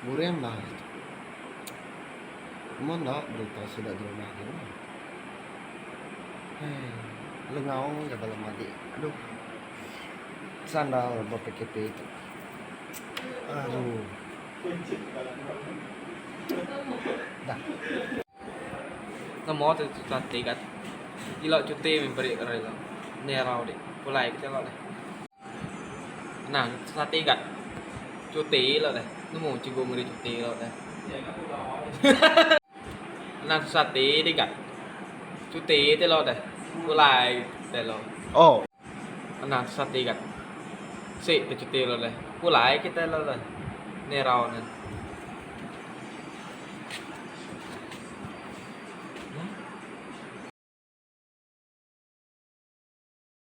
Buring bah ari tu. Amun enda berita sida di rumah aja lah. Hei. Lengau ga bala madik. Aduh. Sandal ba PKP tu. Aduh. Dah. Nemu tu tuan tiga. Ila cuti memperi rela. Nerau dik. Pulai kita lah. Anang sati ga cuti lo deh nemu cikgu meri cuti lo deh. Anang susah ati di ga cuti ti lo deh pulai deh lo. Anang susah ati ga si ke cuti lo deh pulai kitai lo deh enda irau ne.